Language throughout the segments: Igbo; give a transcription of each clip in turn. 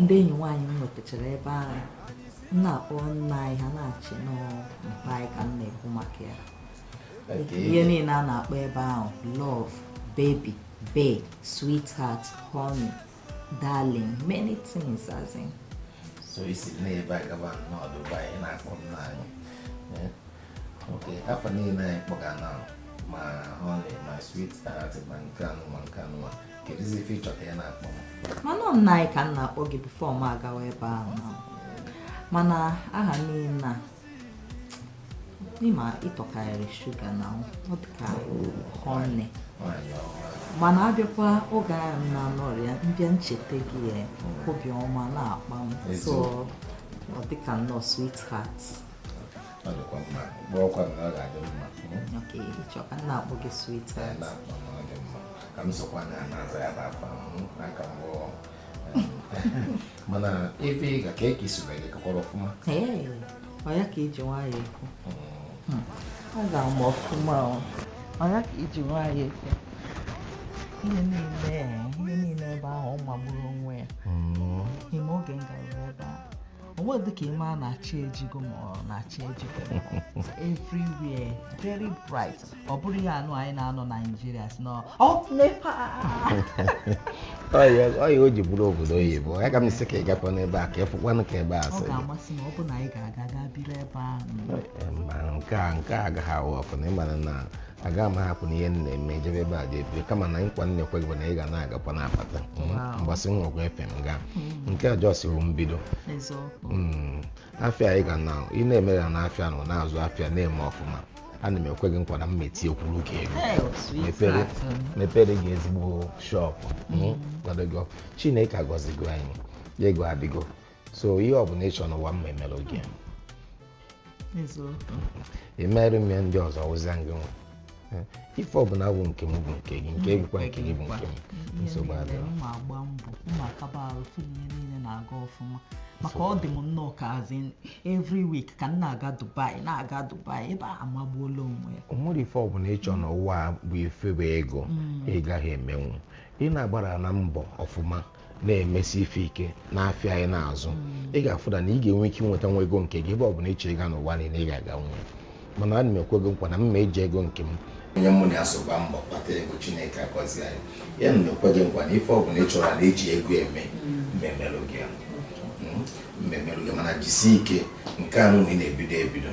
ndị enyi nwaanyị m nwetachara ebe ahụ m na-akpọ nna anyị ha na-eche na ọ mpa anyị ka m na-ekwu maka ya ihe niile a na-akpọ ebe ahụ love baby bae sweetheart honey darling many things as in so isi n'ebe a gaba n'ọdụ ụgbọ anyị na-akpọ nna anyị eh? ok afa niile anyị kpọga na ma honey ma sweetheart ma nke anụ ma nke anụ mana nna anyị ka m na-akpọ gị before m agawa ebe ahụ mana aha niile ị ma ị tọkarịrị sugar na ọ dịka honey mana a bịakwa oge ahụ m na-anọrị ya m bịa ncheta gị ya obi ọma na-akpa m so ọ dịka nnọọ sweetheart mana ebe ị ga ka eke isi wee lekọkwara ọfụma ọ ya ka e ji nwayọ ekwu ọ ga-ama ọfụma ọ ya ka e ji nwayọ ekwu ihe niile ihe niile ebe ahụ ọ magburu onwe ya ị ma oge m gara ebe a o nwedị ka ị ma na chi ejigo ma ọ na chi ejigo everywhere very bright ọ bụrọ ihe anụ anyị na-anọ nigeria sị na up nepa ọ ya o ji bụrụ obodo oyibo ya ka m sị ka ị gakwa n'ebe a ka ị fụkwanụ ka ebe a ọ ga-amasị m ọ bụ na anyị ga-aga gaa biri ebe ahụ nke a nke a agaghị a-work na ị mara na aga m ahapụ na ihe m na-eme jebe ebe a ga-ebiri kama na nkwa m na-ekwe gị bụ na ị ga na-agakwa na-abata Wow. mgbasị m nwekwa efe m gaa nke a just bụ mbido eziokwu Mm, afịa anyị ga na ị na-eme ya na afịa nọ na-azụ afịa na-eme ọfụma ana m ekwe gị nkwa na m ma etiekwuru gị ego Hey, sweet mepere heart, um, mepere gị ezigbo shop mm, kwado gị ọfụ. chineke agọzigo anyị ego adịgo so ihe ọbụla ị chọrọ n'ụwa m ma emere gị emere m ya ndị ọzọ wụzia gị nwa Eh, ife ọbụla bụ nke m bụ nke gị nke bụkwa nke gị bụ nke m nsogbu adịrọ m ma agba mbọ m ma akaba arụ fụ na ihe niile na-aga ọfụma maka ọ dị m nnọọ ka a sị every week ka m na-aga dubai na-aga dubai ebe a amagbuola onwe ya o nwere ife ọbụla ị chọrọ n'ụwa a bụ ife bụ ego ị gaghị emenwu ị na-agbara na mbọ ọfụma na-emesi ife ike n'afịa anyị na-azụ ị ga-afụda na ị ga-enwe ike inweta nwa ego nke gị ebe ọ bụla ị chọ ịga n'ụwa niile ị ga-aganwu mana ana m ekwe gị nkwa na m ma eji ego nke m onye mụ na so gbaa mbọ kpata ego chineke agọzie anyị ya ana m ekwe gị nkwa na ife ọ bụla ị chọrọ na e ji ego eme m ma emelụ gị m ma emelụ gị mana jisie ike nke a nụnwa ị na-ebido ebido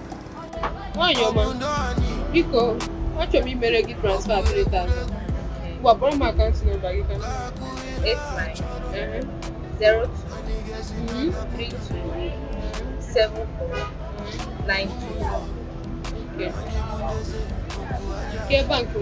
nwaanyị ọma biko achọrọ m imere gị transfer 3000 ngwa kpọọrọ m akaụntụ nọmba gị ka nke bankị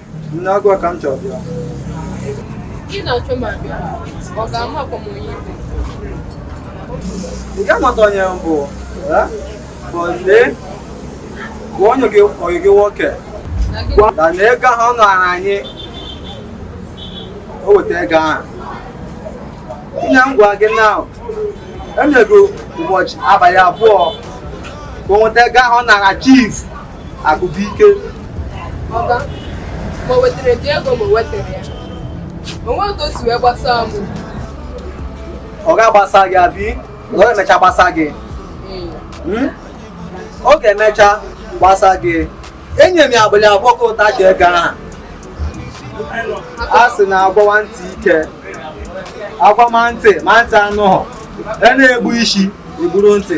Nne ọ gị ka m chọrọ bịa. Ị na-achọ ma bịa, ọ ga-ama akwamonye ibe. Ị ga-amata onye m bụ, eh? bụ lee, bụ onye gị ọyị gị nwoke. Na gị Gwa ya na ego ahụ ọ nara anyị, o weta ego ahụ. Nne m gwa gị na enyego m ụbọchị abalị abụọ ka o nweta ego ahụ ọ nara chief. akụkọ ike ọga ma o wetara gị ego ma o wetara ya o nwe otu o si wee gbasaa m ọ ga-agbasa gị abi ọ ga-emecha gbasa gị Hmm? ọ ga-emecha gbasa gị enye m ya abalị abụọ ka o wetachie ego ahụ a sị na agwawa ntị ike agwama ntị ma ntị anụghọ e na-egbu isi egburu ntị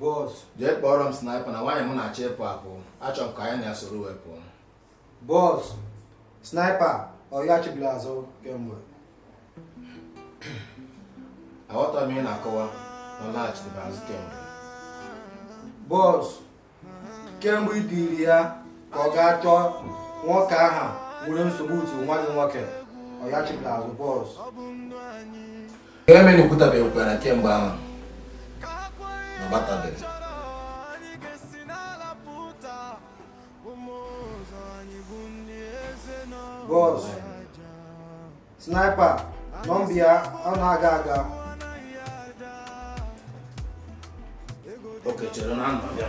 bọs jee kpọọrọ m sniper na nwaanyị m na-achọ ịpụ apụ achọ m ka anyị na ya soro wee pụọ bọs sniper ọ yachibeghị azụ kemgbe aghọtara m ihe ị na-akọwa na ọ laghachibeghị azụ kemgbe bọs kemgbe i ziri ya ka ọ gaa chọọ nwoke ahụ nwere nsogbu otu nwa gị nwoke ọ yachibeghị azụ bọs Ihe mere ekwutabeghị kwara kemgbe ahụ na ọ batabeghị. Bọs, sniper, nọmba ya ọ na-aga aga. Okay chere na anọ ya.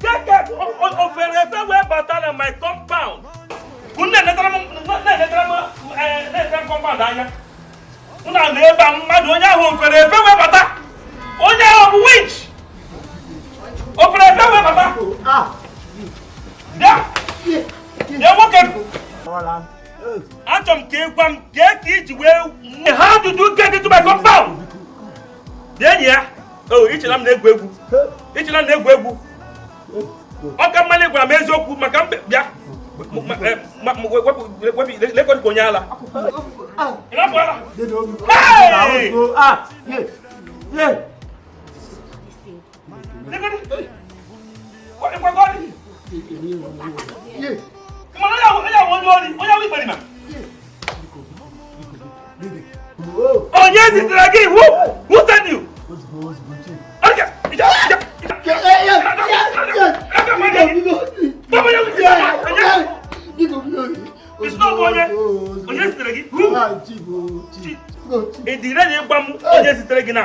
kee ka o fere efe wee bata na my compound unu na-enetara m compound anya unu nọ ebe a mmadụ onye ahụ o fere efe wee bata onye ahụ bụ witch o fere efe wee bata bịa bịa nwoke achọrọ m ka ị gwa m kee ka i ji wee ha ajụjụ nke gị tụba compound Bịa enyi ya, oh, i che na m na-egwu egwu. I che na m na-egwu egwu. Ọ ka mma unu gwa m eziokwu maka m bịa. Lekọta onye ala. Hey! onye zitere gị iwu wuteniu onye zitere gị na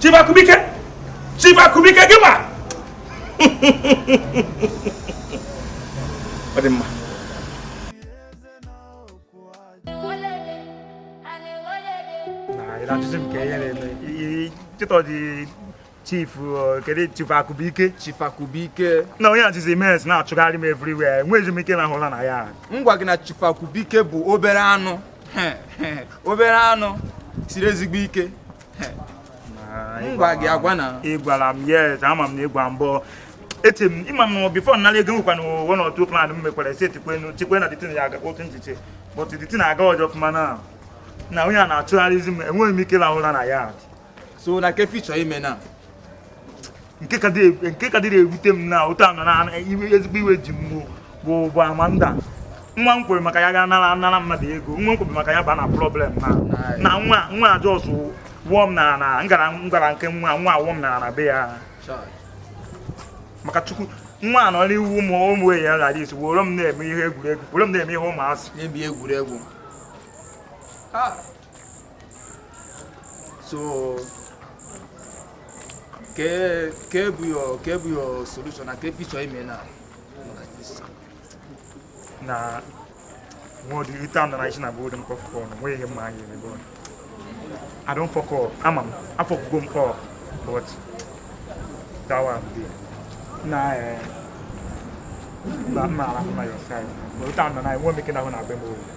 Chief Akụbụike Chief Akụbụike gị ma ọ dị mma na-ajụzi m ka ihe na-eme chịtọ dị chief uh, kedu chief akụbụike chief akụbụike na onye a jizi mes na-achụgharị m everywhere enweghịzi m ike lahụ ụla na ya m gwa gị na chief akụbụike bụ obere anụ obere anụ siri ezigbo ike ngwa gị agwa na ị gwara m yes ama m na ị gwa m but eti m ị ma m before nara ego nwekwa na ụwa na otu plan m mekwara esi etikwe tikwe na the thing ya aga otu nchiche but the thing aga ọjọ ọfụma na na onye a na-achụgharịzi m enweghị m ike rahụ ụra na ya so na ke ife ị chọ ime na nke ka dịrị ewute m na ụta nọ na ezigbo iwe ji m bụ bụ bụ Amanda nwa m kwere maka ya ga nara anara mmadụ ego nwa m kwere maka ya ba na problem na na nwa nwa a just wụọ m na na ngara ngara nke nwa nwa awụọ m na na be ya maka chukwu nwa anọ n'iwu ụmụ ụmụ enyi ya lara isi were m na-eme ihe egwuregwu were m na-eme ihe ụmụazị egwuregwu so ke ke bụ your ke bụ your solution na ke ife ị chọ ime na na nwa ọdị ite anọ na isi na golden popcorn nwe ihe mma anyị ebe ọ I don fuck up ama m afuckugo m up but that one dey na eh, na mma arahụ na your side but ite anọ na nwe meke na ahụ na agbe m oyi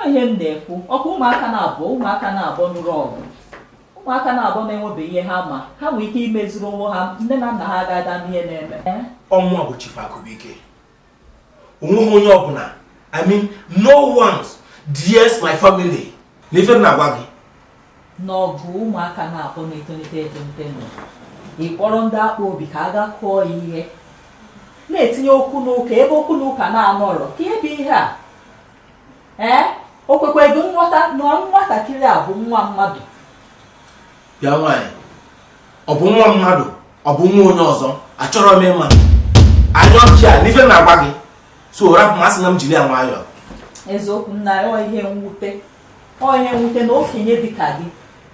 Ọ ihe m na-ekwu ọ kwa ụmụaka naabọ ụmụaka naabọ nụrụ ọgụ ụmụaka naabọ na-enwebeghị ihe ha ma ha nwere ike imeziri onwe ha nne na nna ha ga-ada ama ihe na-eme ọnwa bụ Chief Akụbụike onweghị onye ọbụla I mean no one dares my family na ife m na-agwa gị na ọ bụ ụmụaka naabọ na-etolite etolite na ị kpọrọ ndị akpọ obi ka a ga kụọ ya ihe na-etinye okwu n'ụka ebe okwu n'ụka na-anọrọ ka ebe ihe a ee o kwekweghị nghọta na nwatakịrị a bụ nwa mmadụ bịa nwaanyị ọ bụ nwa mmadụ ọ bụ nwa onye ọzọ achọrọ m ịma anya ọchị a n'ife m na-agwa gị so rapụ m asị na m jiri ya nwayọọ eziokwu na ọ ihe mwute ọ ihe mwute na okenye dịka gị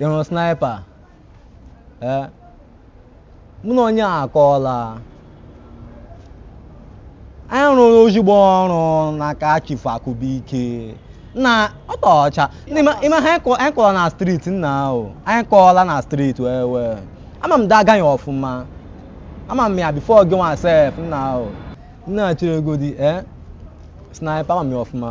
ị hụrụ sniper ee mụ na onye a akọọla anyị rụrụ ezigbo ọrụ n'aka Chief Akụbụike n'Otuọcha Ndị ma- ịma ha anyị kọ- anyị kọrọ na street nnaa o anyị kọọla na street well well ama m that guy ọfụma ama m ya before gị nwa sef nnaa o nne cheregodi ee sniper ama m ya ọfụma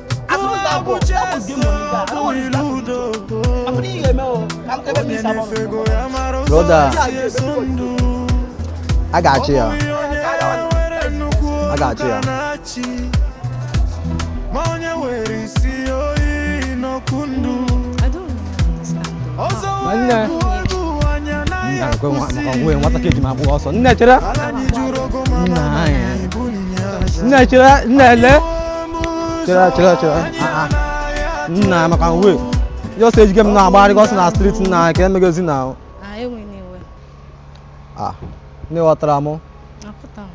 Brother, I got you. I got you. Nne, nwata ka eji m agba ọsọ. Nne chere. Nne chere, nne ele. chere chere chere nna ya maka nwe ya ọsọ ejige m na-agbara gị ọsọ na street nna ya ka emegezi n'ahụ Ah, enweghị m iwe. ah nne ghọtara m Aghọta m,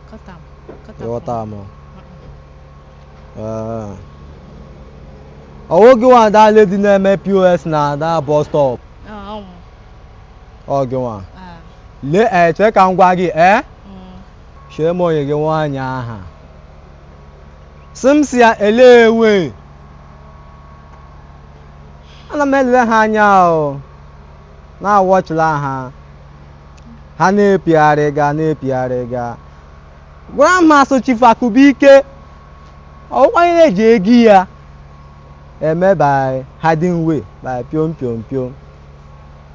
aghọta m, aghọta m. ị ghọta m Ee. ọ wụ gị nwa that lady na-eme POS na that bus stop Ah, ọ mụ. ọ gị nwa Ah, lee ee chee ka m gwa gị ee mm. chee m enyi gị nwaanyị aha sị m si ya elewe ana m elele ha anya o na-awọchila ha ha na-epigharị ga na-epigharị ga gwara m ha sị Chief Akụbụike ọ wụkwa onye na-eji ego ya eme by hiding way by piom piom piom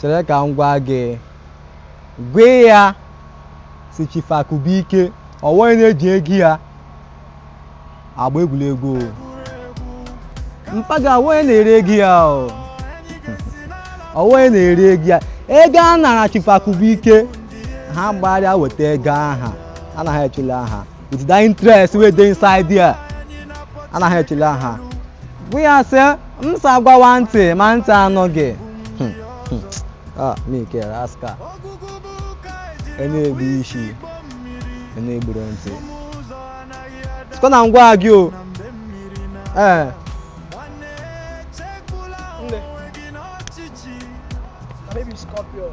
chere ka m gwa gị gwa ya sị Chief Akụbụike ọ wụ onye na-eji ego ya agba egwuregwu o. mpa gị ọ wụ onye na-eri ego ya o. ọ wụ onye na-eri ego ya ego a nara Chief Akụbụike ha gbagharịa weta ego aha anaghị echele ha with the interest wey dey inside there anaghị echele ha bụ ya sị m sị a gwawa ntị ma ntị anụghị Hmm, hmm. Ah, Mike Raska ị na-egbu isi ị na-egburu ntị sịkwa na m gwa gị o ee Nne. Baby Scorpio.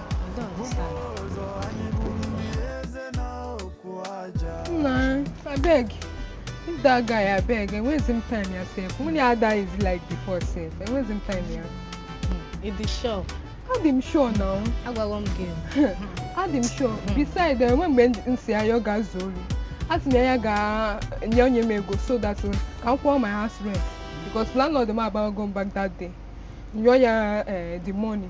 Nna, abeg, if that guy abeg, enwezi m time ya sef. Nwunye Ada is like before sef, enwezi m time ya. Ị dị sure? Adị m sure now. Agwaghị m gị. Adị m sure. Beside, e nwere mgbe m sị ya ọ ga-azụ olu. Ọ sị na ya ga-enye onye m ego so that ka m kwụọ my house rent because landlord m abago m back that day. M jụọ ya eh, the money.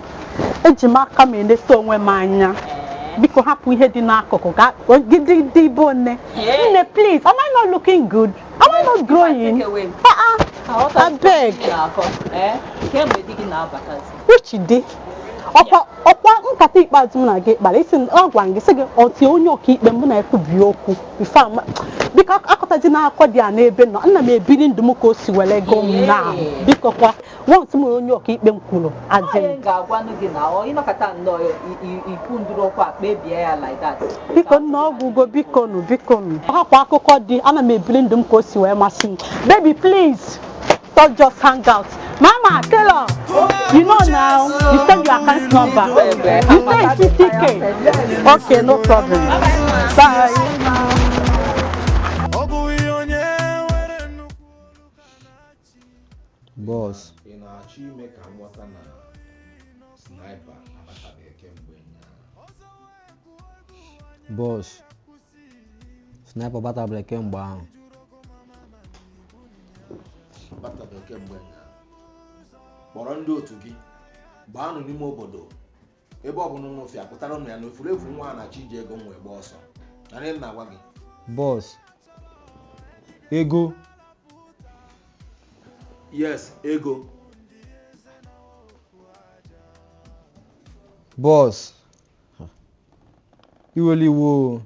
eji m aka m eleta onwe m anya biko hapụ ihe dị n'akụkụ ka gidi dị ibe one nne please am I not looking good am I not growing ah ah abeg which di ọkwa ọkwa nkata ikpeazụ m na gị kpara ị sị m- ọ gwara m gị sị gị until onye ọkaikpe mụ na ekwubi okwu Ifeoma biko akọtazina akụkọ di a n'ebe m nọ ana m ebiri ndụ m ka o si were gụ m na biko kwa Asịrị m onye ọkaikpe m kwuru as in- Onye ga-agwanụ gị na ọ ị nọkata nnọọ i- i- ikwu ndụrụ okwu a kpebie ya like that. biko nna ọgwụgo biko nụ biko nụ ọ hapụ akụkọ di ana m ebili ndụ m ka o si wee masị m baby please stop just hang out mama taylor you know now you send your account number you say it's 50k okay no problem bye bọs ị na-achọ ime ka m ghọta na sniper abatabeghị kemgbe ụnyaahụ bọs sniper abataberọ kemgbe ahụ abatabeghị kemgbe ụnyaahụ kpọrọ ndị otu gị gbaanụ n'ime obodo ebe ọ bụla ụnụ fụ ya kpọtaranụ m ya na efulefu nwa a na-achọ iji ego m wee gbaa ọsọ nụrụ ihe m na-agwa gị bọs ego yes ego bọs iwela iwe o.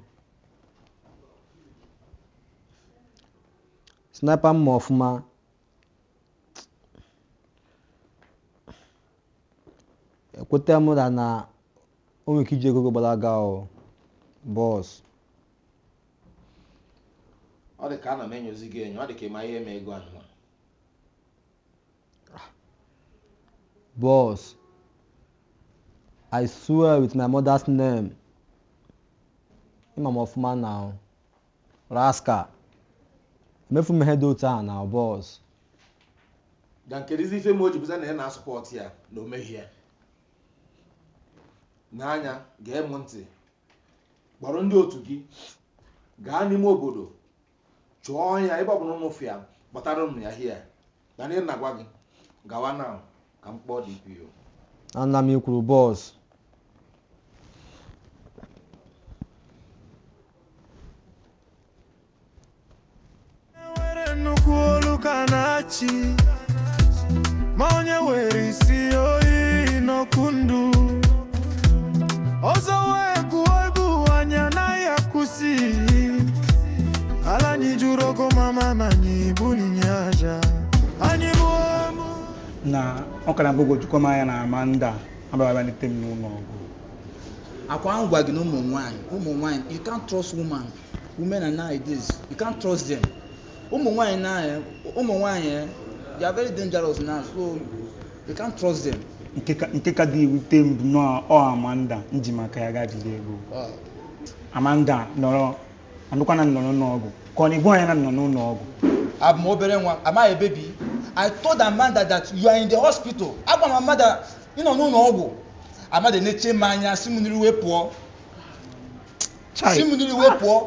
sniper m ma ọfụma ekweta m na na o nwere ike iji ego gị gbalaga o bọs ọ dị ka ana m enyozi gị enyo ọ dị ka ị ma ihe mere ego ahụ nwa. bọs i swear with my mother's name ị ma m ọfụma now Rascal. Emefu m ihe dị otu a now bọs. Then kedụzi ife ma o ji bụzie na ị na-asọpọt ya na o meghị ya n'anya gee m ntị kpọrọ ndị otu gị gaa n'ime obodo chọọ ya ebe ọbụla ụnụ fụ ya kpọtaranụ m ya hia Mana ị na-agwa gị gawa na ka m kpọọ DPO. Ana m ikwuru boss were nnukwu olu ka na-achị ma onye were isi oyi n'okwu ndụ ọzọ wee gụọ egwu anyị anaghị akwụsị ala anyị jụrụ ogo mama na anyị bunye aja anyị mụọ mụ na ọ ka na-agbagwojukwa m anya na Amanda abịaba lete m n'ụlọ ọgwụ akwa m gwa gị na ụmụ nwaanyị ụmụ nwaanyị you can't trust woman women are nowadays you can't trust them ụmụ nwaanyị na eh, ụmụ nwaanyị eh, they are very dangerous now so you can't trust them nke ka- nke ka dị ewute m bụ na ọ Amanda m ji maka ya gaa jide ego Ah, Amanda nọrọ anụkwa na m nọrọ n'ọgwụ ka ọ na-agwa ya na m nọ n'ụlọ ọgwụ abụ m obere nwa am I a baby I told Amanda that you are in the hospital agwa m Amanda na ị nọ n'ụlọ ọgwụ Amanda nechaa m anya si m n'iru wee pụọ si m n'iru wee pụọ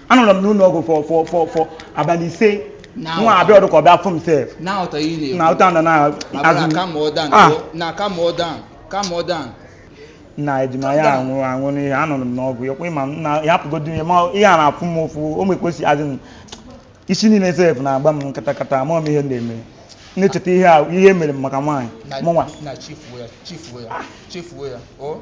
anọrọ m n'ụlọ ọgwụ for for for for abalị ise Na nwa a abịarọdụ ka ọ bịa fụ m sef na ụtọ ihe na ụta nọ na abụla azụ kama ọ dan Ah. o, na kama ọ dan kama ọ dan na ejima ya anwụrụ anwụ n'ihe anọrọ m n'ọgwụ ya kwa ịma m na ya hapụgodu ihe ma ihe a na-afụ m ụfụ o mekposi adị m isi niile sef na-agba m katakata amarọ m ihe na-eme na-echeta ihe a ihe e mere m maka nwaanyị na- mụnwa na chifuo ya chifuo ya chifuo ya o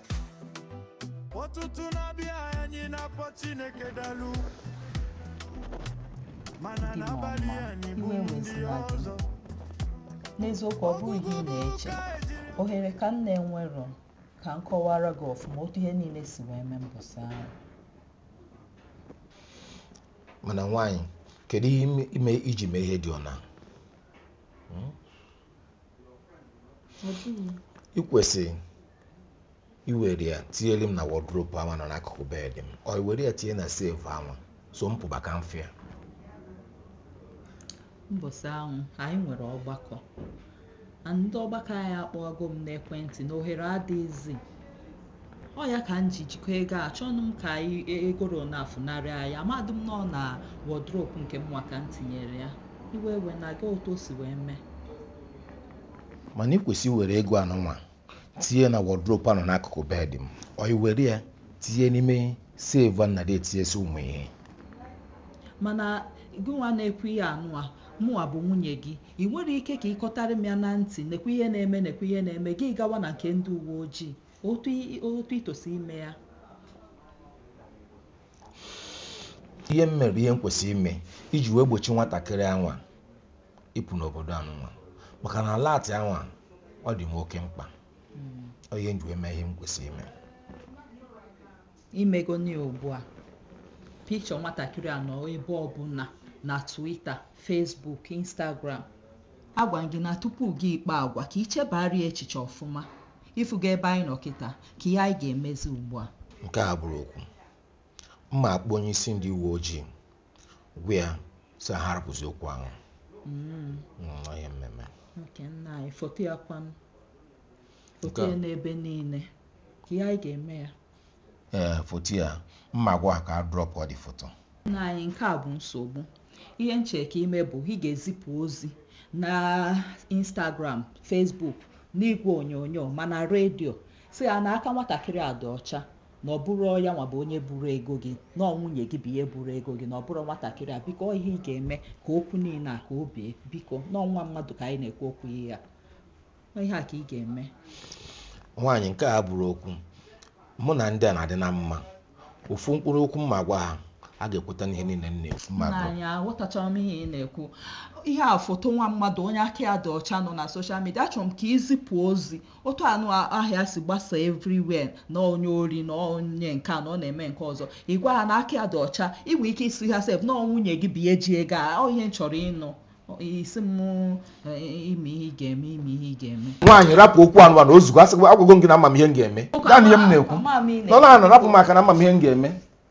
ụtụtụ na-abịa anyị na-akpọ Chineke dalu mana n'abalị anyị bụ ndị ọzọ n'eziokwu ọ bụghị ihe ị na-eche ohere ka m na-enwerọ ka m kọwara gị ọfụma otu ihe niile si wee mee mbọsị ahụ mana nwaanyị kedu ihe ime iji mee ihe dị ọna i kwesị iwere ya tinyere m na wardrobe ahụ nọ n'akụkụ bed m or iwere ya tinye na safe ahụ so m pụba ka m fụ ya mbọsị ahụ anyị nwere ọgbakọ ndị ọgbakọ anyị akpọgo m n'ekwentị na ohere adịghịzi ọ ya ka m ji jikọ ego achọnụ m ka anyị e, egoro na-efunarị anyị amadị m na ọ na wardrobe nke mụnwa ka m tinyere ya iwe ewena gị otu o si wee mee mana ị kwesị were ego anụnwa tinye na wardrobe a nọ n'akụkụ bed m or iwere ya tinye n'ime safe a m na-adị etinyesi ụmụ ihe mana gị nwa na-ekwu ihe anụwa mụwa bụ nwunye gị ị nwere ike ka ị kọtara m ya na ntị nekwa ihe na-eme nekwa ihe na-eme gị gawa na nke ndị uwe ojii otu i tosi ime ya ihe m mere ihe m kwesịrị ime iji wee gbochi nwatakịrị anwa ịpụ n'obodo a nwa maka na alert a nwa, ọ dị m oke mkpa ọ ihe m ji wee mee ihe m kwesịrị ime i megonụ ya ugbu a picture nwatakịrị a nọ ebe ọbụla na Twitter Facebook Instagram agwa m gị na tupu gị ịkpa agwa ka i chebara ya echiche ọfụma ịfụga ebe anyị nọ kịta kee ihe anyị ga-emezi ugbu a nke a abụrọ okwu m ma-akpọ onye isi ndị uwe ojii gwa ya sị ha arapụzi okwu ahụ Mm, ọ ihe m ma-eme nna anyị foto ya kwanụ foto ya nọ ebe niile kee ihe ị ga-eme ya ee foto ya m ma gwa ha ka a dropụọ the foto nna anyị nke a bụ nsogbu ihe m chọ ka i mee bụ ị ga-ezipụ ozi na instagram facebook n'igwe onyonyo ma na redio sị ha na aka nwatakịrị a dị ọcha na ọ bụrọ ya nwa bụ onye buru ego gị na ọ nwunye gị bụ onye buru ego gị na ọ bụrọ nwatakịrị a biko ọ ihe ị ga-eme ka okwu niile a ka o bee biko na ọ nwa mmadụ ka anyị na-ekwu okwu ya Ọ ihe a ka ị ga-eme nwaanyị nke a abụrọ okwu mụ na ndị a na-adị na mma ofu mkpụrụ okwu m ma gwa ha ha ga-ekweta n'ihe niile m na-ekwu ma nna gwa anyị aghọtachara m ihe ị na-ekwu ihe a foto nwa mmadụ onye aka ya dị ọcha nọ na social media achọrọ m ka i zipụ ozi otu anụ ihe a si gbasa everywhere na onye ori na onye nke a na ọ na-eme nke ọzọ ị gwa ha na aka ya dị ọcha ị nwee ike ịsị ha sef na ọ nwunye gị bụ onye ji ego a ọ ihe m chọrọ ịnụ ị sị m eh, ime ihe ị ga-eme ime ihe ị ga-eme nwaanyị rapụ okwu anụnwa o zugo agwago m gị na ama m ihe m ga-eme naanị ihe m na-ekwu nọ na rapụ m aka na ama m ihe m ga-eme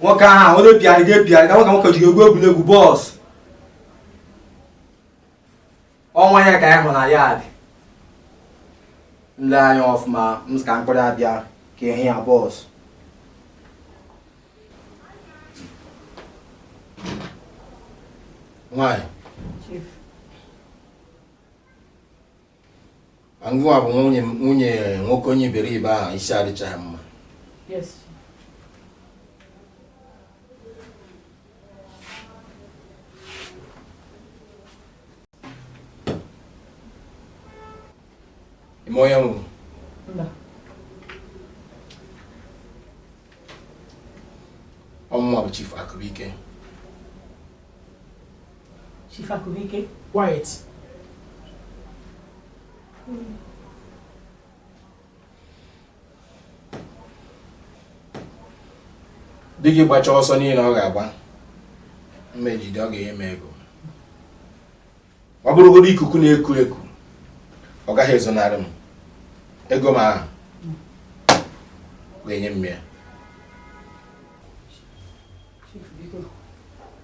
nwoke ahụ onye bịara gị ebigharị ka nwoke nwoke ji egwu egwuregwu boss ọnwa ya ka anyị hụ na ya dị nle anya ọfụma m ka mkpụrụ abịa ka ehi ya boss nwanyị ngụwa bụ nwunye nwunye nwoke onye iberibe ahụ isi adịchaghị mma ime onye nwụrụ ọmụma bụ Chief Akụbụike Chief Akụbụike. Quiet. Mm. di gị gbacha ọsọ niile ọ ga-agba m ma-ejide ọ ga-enye m ego ọ bụrụgodu ikuku na-eku eku ọ gaghị ezonarị m ego m ahụ ọ ga-enye m ya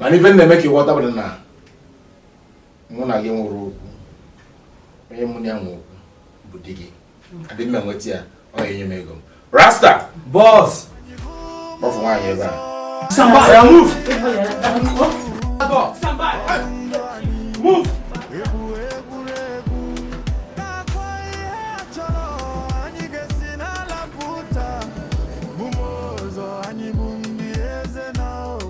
mana ife na-eme ka ị ghọta bụ na mụ na gị nwerọ okwu onye mụ na ya nwe okwu bụ di gị adị m enweta ya ọ ga-enye m ego m rasta boss kpọfụ nwaanyị ebe a Somebody, I'll move. Somebody, move.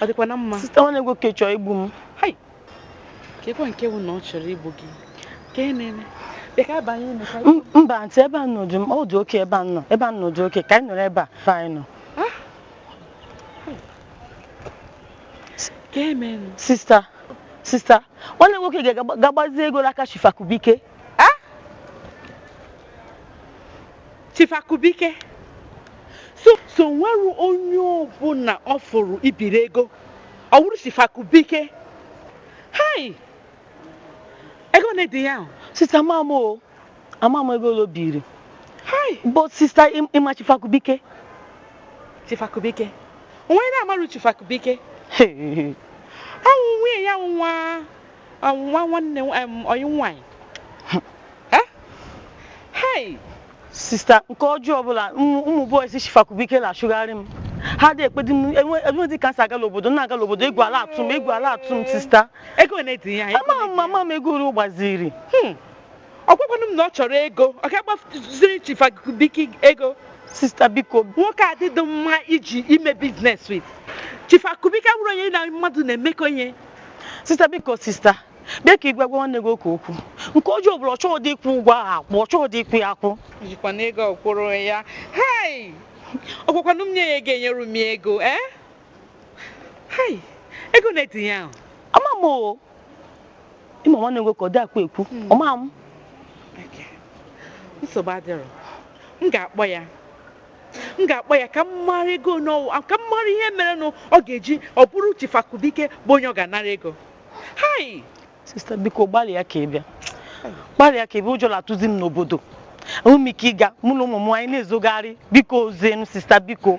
ọ dịkwa na mma sista nwanne gị nwoke chọ igbu m kekwa nke bụ na ọ chọrọ igbu gị ka e na-eme mba ntị ebe a nọdụ m ọ dị okay ebe a nọ ebe a nọ dị okay ka anyị nọrọ ebe a ka anyị nọ ah! sista sista nwanne gị nwoke ga-agbazi ego n'aka Chief Akubike Eh? Chief Akubike so o nwerọ onye ọbụla ọ fụrụ ibiri ego ọ wụrụ Chief Akubike hai ego ole dị ihe ahụ? sista ama m o ama m ego ole o biri hai but sista Im- ị ma Chief Akubike Chief Akubike onye na-amarọ Chief Akubike Hey. ọ wụ nwunye ya nwa nwa nwanne ọyị nwaanyị eh? hei sista nke ọjọọ bụ na ụmụ boys Chief Akubike na-achụgharị m ha adị ekwedị m enwedị ka m si aga l'obodo na-aga l'obodo egwu la-atụ m egwu la-atụ m sista ama m ama m ego ole ọ gbaziri hmm. ọ gwakwanụ m na ọ chọrọ ego ọ gaa gbaziri Chief Akubike ego sista biko nwoke a adịrọ mma iji eme business with Chief Akubike awụrọ onye ya na mmadụ na-emekọ ihe sista biko sista bịa ka ị gwa gwa nwanne gị nwoke okwu nke ọjọọ bụrụ ọ chọghịdị ịkwụ ụgwọ ahụ akwụ ọ chọghịdị ịkwụ ya akwụ jikwa na ego ọkwụrụ onwe ya hai ọ gwakwanụ m nye ya ego enyere m ya ego ee hai ego ole dị ihe ahụ ama m o ị ma nwanne gị nwoke ọ dịkwa ekwu ọ ma m nsogbu adịrọ m ga-akpọ ya m ga-akpọ ya ka m mara ego ole ọ wụ ka m mara ihe merenụ ọ ga-eji ọ bụrụ Chief Akubike bụ onye ọ ga-anara ego hai sista biko gbalịa ka ị bịa gbalịa ka ị bịa ụjọ na-atụzi m n'obodo enweghị m ike ịga mụ na ụmụ m anyị na-ezogharị biko ozienu sista biko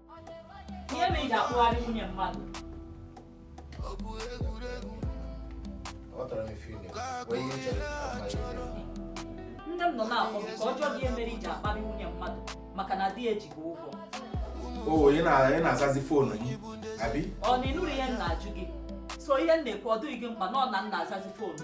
ihe mere i ji akpụgharị nwunye mmadụ nne m nọ na foonu ka m jụọ gị ihe mere i ji akparị nwunye mmadụ maka na di ya ji gị ụgwọ o ị na-azazi foonu gị abi ọ na ịnụrọ ihe m na-ajụ gị so ihe m na-ekwu ọ dịghị gị mkpa na ọ na m na-azazi foonu